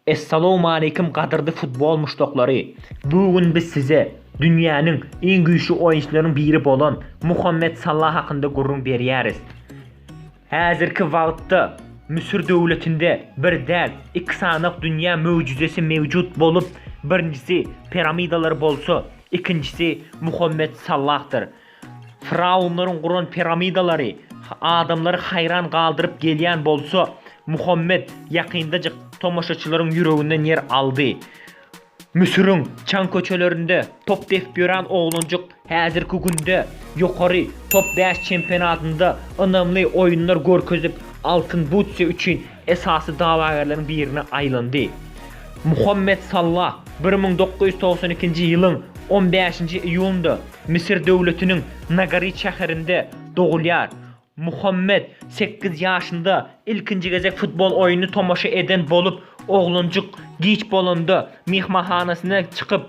Essalowmaleýkim gadyrdy futbol muşdaklary! Bu gün biz size dünýäniň iň güýçli oýunçylarynyň biri bolan Muhammet Salla hakynda gürrüň berýäris. Häzirki wagtda Müsür döwletinde bir däl, iki sany dünýä möjüzesi mewjut bolup, birinjisi piramidalar bolsa, ikinjisi Muhammet Sallahdyr. Firawunlaryň guran piramidalary adamlary haýran galdyryp gelýän bolsa, Muhammet ýakyndajyk tomaşaçylaryň ýüreginden ýer aldy. Müsüriň çaň köçelerinde top depip ýören oglanjyk häzirki günde Ýokary top bäş çempionatynda ynamly oýunlar görkezip, Altyn butse üçin esasy dawagärleriň birine aýlandy. Muhammet Salla bir müň dokuz ýüz togsan ikinji ýylyň on bäşinji iýunynda Müsür döwletiniň Nagarit şäherinde dogulýar. Muhammet sekiz ýaşynda ilkinji gezek futbol oýnuny tomaşa eden bolup, oglanjyk giç bolanda myhmanhanasyna çykyp,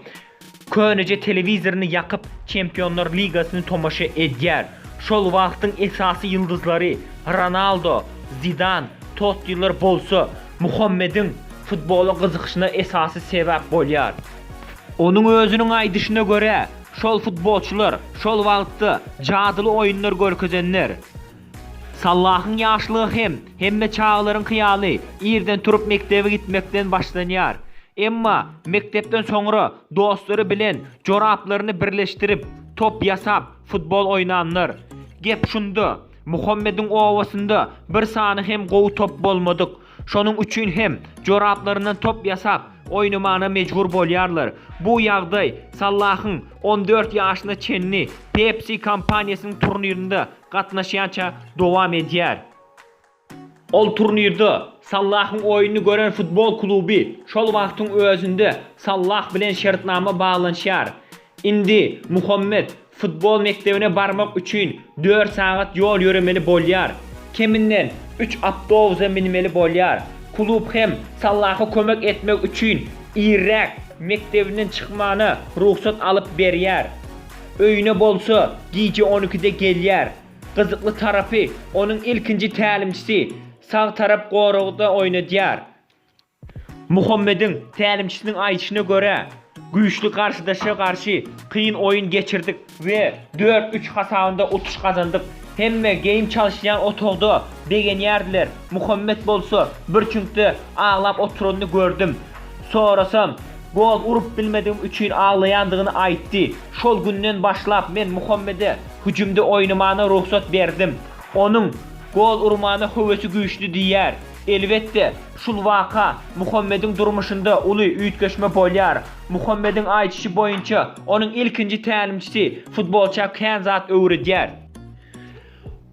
Köneje telewizoryny ýakyp, Çempionlar ligasyny tomaşa edýär. Şol wagtyň esasy ýyldyzlary, Ronaldo, Zidan, Tottiler bolsa, Muhammediň futbola gyzykyşyna esasy sebäp bolýar. Onuň özüniň aýdyşyna görä, şol futbolçylar şol wagtda jadyly oýunlar görkezenler. Sallahyň ýaşlygy hem hemme çagalaryň hyýaly irden turup mekdebe gitmekden başlanýar. Emma mekdepden soňra dostlary bilen joraplaryny birleşdirip, top ýasap, futbol oýnanlar. Gep şunda, Muhammediň obasynda bir sany hem gowy top bolmadyk. Şonuň üçin hem joraplaryndan top ýasap, oýnamana mejbur bolýarlar. Bu ýagdaý Sallahyň on dört ýaşyna çenli Pepsi kompaniýasynyň turnirinde gatnaşýança dowam edýär. Ol turnirde Sallahyň oýnuny gören futbol kluby şol wagtyň özünde Sallah bilen şertnama baglanyşýar. Indi Muhammet futbol mekdebine barmak üçin dört sagat ýol ýöremeli bolýar. Keminden üç awtobusa minmeli bolýar. Klub hem Sallaha kömek etmek üçin irräk mekdebinden çykmagyna rugsat alyp berýär. Öýüne bolsa, gije on ikide gelýär. Gyzykly tarapy, onuň ilkinji tälimçisi sag tarap goragda oýnadýar. Muhammediň tälimçisiniň aýdyşyna görä, güýçli garşydaşa garşy kyn oýun geçirdik we dört, üç hasabynda utuş gazandyk. Hemme geýim çalyşýan otagda begenýärdiler. Muhammet bolsa, bir çüňkde aglap oturanyny gördüm. Sorasam, gol urup bilmedigim üçin aglaýandygyny aýtdy. Şol günden başlap men Muhammede hüjümde oýnamana rugsat berdim. Onuň gol urmana höwesi güýçli diýýär. Elbetde, şul waka Muhammediň durmuşynda uly üýtgeşme bolýar. Muhammediň aýdyşy boýunça, onuň ilkinji tälimçisi futbolça kän zat öwredýär.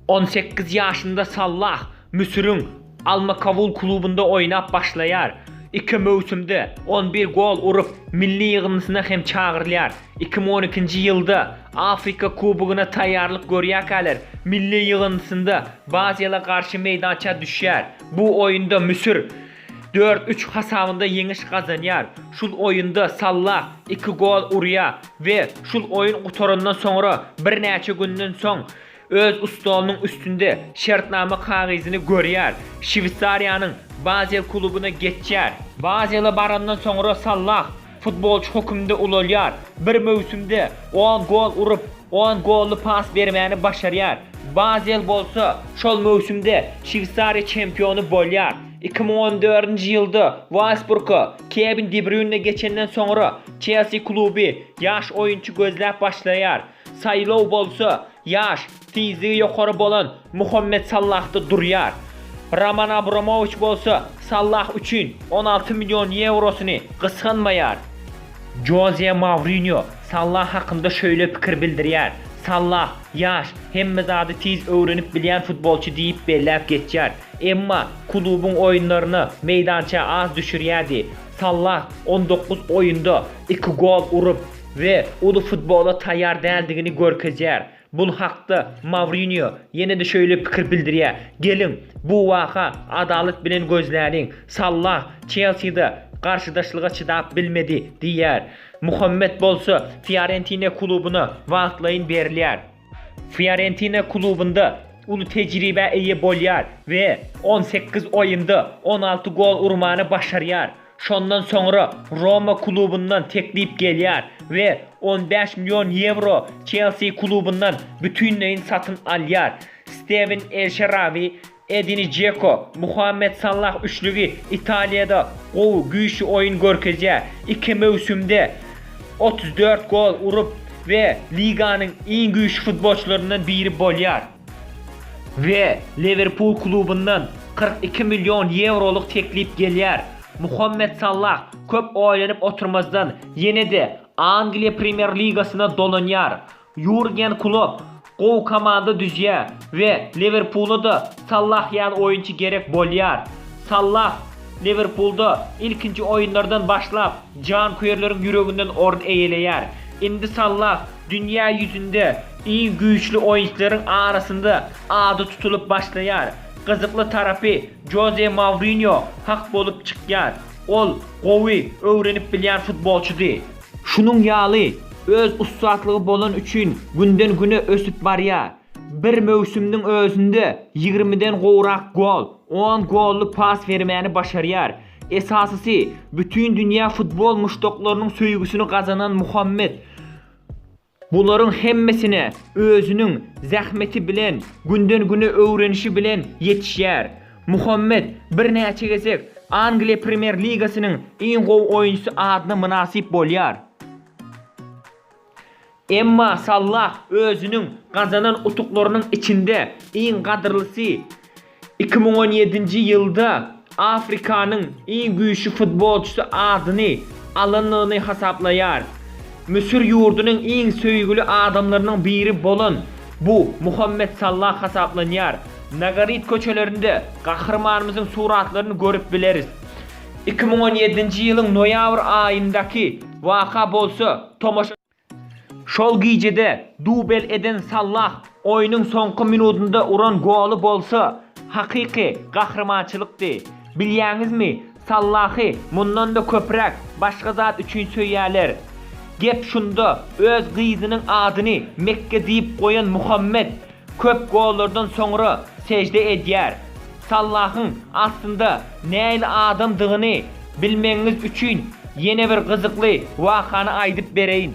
On sekiz ýaşynda Sallah Müsüriň Al-Makawul klubynda oýnap başlaýar. Iki möwsümde on bir gol urup, milli ýygyndysyna hem çagyrylýar. Iki müň on ikinji ýylda Afrika kubogyna taýýarlyk görýärkäler milli ýygyndysynda Baziala garşy meýdança düşýär. Bu oýunda Müsür Dört üç hasabynda ýeňiş gazanýar. Şul oýunda Sallah iki gol urýar we şul oýun gutarandan soňra birnäçe günden soň öz stolunyň üstünde şertnama kagyzyny görýär. Şweýsariýanyň Bazel klubuna geçýär. Bazele barandan soňra Sallah Futbolçy höküminde ulalýar. Bir möwsümde on gol urup, on golly pas bermäni başarýar. Bazel bolsa, şol möwsümde Şweýsariýa çempiony bolýar. Iki müň on dördünji ýylda Wolfsburga Kewin de Brýune geçenden soňra, Çelsi kluby ýaş oýunçy gözläp başlaýar. Saýlaw bolsa, ýaş, Tizligi ýokary bolan Muhammet Salahda durýar. Roman Abramowiç bolsa Salah üçin on alty million ýewrosyny gysganmaýar. Joze Mourinýo Salah hakynda şeýle pikir bildirýär, Salah, ýaş, hemme zady tiz öwrenip bilýän futbolçy diýip belläp geçýär. Emma klubuň oýunlaryna meýdança az düşürýärdi. Salah on dokuz oýunda iki gol urup we uly futbola taýýar däldigini görkezýär. Bul hakda Mourinýo ýene-de şöýle pikir bildirýär, Geliň, bu waka adalat bilen gözläliň. Sallah Çelside garşydaşlyga çydap bilmedi diýýär. Muhammet bolsa Fiorentina klubuna wagtlaýyn berilýär. Fiorentina klubynda uly tejribä eýe bolýar we on sekiz oýunda on alty gol urmany başarýar. Şondan soňra Roma klubundan teklip gelýär we on bäş million ýewro Çelsi klubundan bütinleýin satyn alýar. Stewen El Şerawi, Edin Žeko, Muhammet Salah üçlügi Italiýada gowy, güýçli oýun görkezýär. Iki möwsümde otuz dört gol urup we liganyň iň güýçli futbolçylaryndan biri bolýar. We Liwerpul klubyndan kyrk iki million ýewrolyk teklip gelýär. Muhammet Sallah köp oýlanyp oturmazdan ýene-de Angliýa Premýer-ligasyna dolanýar. Ýurgen Klopp gowy komanda düzýär we Liwerpula-da Sallah ýaly oýunçy gerek bolýar. Sallah Liwerpulda ilkinji oýunlardan başlap janköýerleriň ýüreginden orun eýeleýär. Indi Sallah dünýä ýüzünde Iň güýçli oýunçylaryň arasynda ady tutulyp başlaýar. Gyzykly tarapy Joze Mourinýo hak bolup çykýar. Ol gowy öwrenip bilýän futbolçydy. Şunuň ýaly öz ussatlygy bolan üçin günden güne ösüp barýar. Bir möwsümniň özünde ýigrimiden gowrak gol, on golly pas bermäni başarýar. Esasysy, bütin dünýä futbol muşdaklarynyň söýgüsini gazanan Muhammet. Bularyň hemmesine özüniň zähmeti bilen, günden-güne öwrenişi bilen ýetişýär. Muhammet birnäçe gezek Angliýa Premýer-ligasynyň iň gowy oýunçysy adyna mynasyp bolýar. Emma Sallah özüniň gazanan utuklarynyň içinde iň gadyrlysy, Iki müň on ýedinji ýylda Afrikanyň iň güýçli futbolçysy adyny alandygyny hasaplaýar. Müsür ýurdunyň iň söýgüli adamlarynyň biri bolan bu Muhammet Sallah hasaplanýar. Nagaryt köçelerinde gahrymanymyzyň suratlaryny görüp bileris. Iki müň on ýedinji ýylyň noýabr aýyndaky waka bolsa tomaşa. Şol gijede dubel eden Sallah oýnuň soňky minudynda uran goly bolsa, hakyky gahrymançylykdy. Bilýäňizmi, Sallahy mundan-da köpräk başga zat üçin söýýärler. Gep şunda, öz gyzynyň adyny Mekge diýip goýan Muhammet Köp gollardan soňra sejde edýär. Sallahyň aslynda nähili adamdygyny bilmegiňiz üçin ýene bir gyzykly wakany aýdyp bereýin.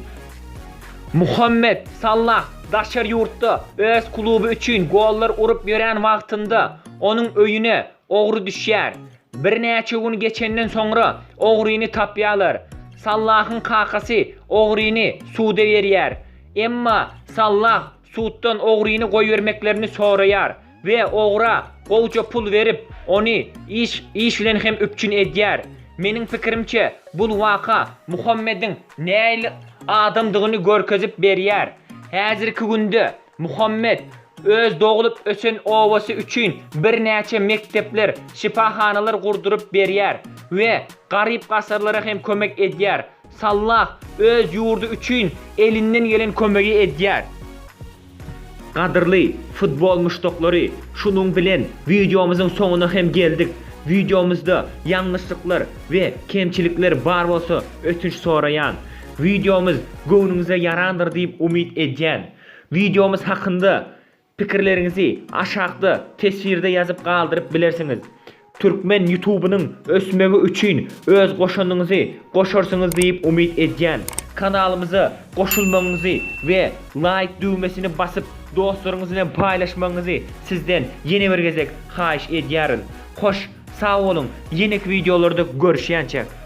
Muhammet Sallah daşary ýurtda öz kluby üçin gollar urup ýören wagtynda onuň öýüne ogry düşýär. Birnäçe gün geçenden soňra ogryny tapýarlar. Sallahyň kakasy ogryny suda berýär. Emma Sallah suddan ogryny goýbermeklerini soraýar we ogra gowja pul berip, ony iş iş bilen hem üpjün edýär. Meniň pikirimçe, bul waka Muhammediň nähili adamdygyny görkezip berýär. Häzirki günde Muhammed öz doglup ösen obasy üçin birnäçe mekdepler, şypahanalar gurduryp berýär we garyp-gasarlara hem kömek edýär. Sallah öz ýurdy üçin elinden gelen kömegi edýär. Gadyrly futbol muşdaklary şunuň bilen wideomyzyň soňuna hem geldik. Wideomyzda ýalňyşlyklar we kemçilikler bar bolsa ötünç soraýan. Wideomyz göwnüňize ýarandyr diýip umyt edýän. Wideomyz hakynda Pikirleriňizi aşakda teswirde ýazyp galdyryp bilersiňiz. Türkmen ýutubynyň ösmegi üçin öz goşandyňyzy goşarsyňyz diýip umyt edýän. Kanalymyza goşulmagyňyzy we laýk düwmesini basyp dostlaryňyz bilen paýlaşmagyňyzy sizden ýene bir gezek haýyş edýäris. Hoş sag boluň ýeneki wideolarda görüşýänçäk.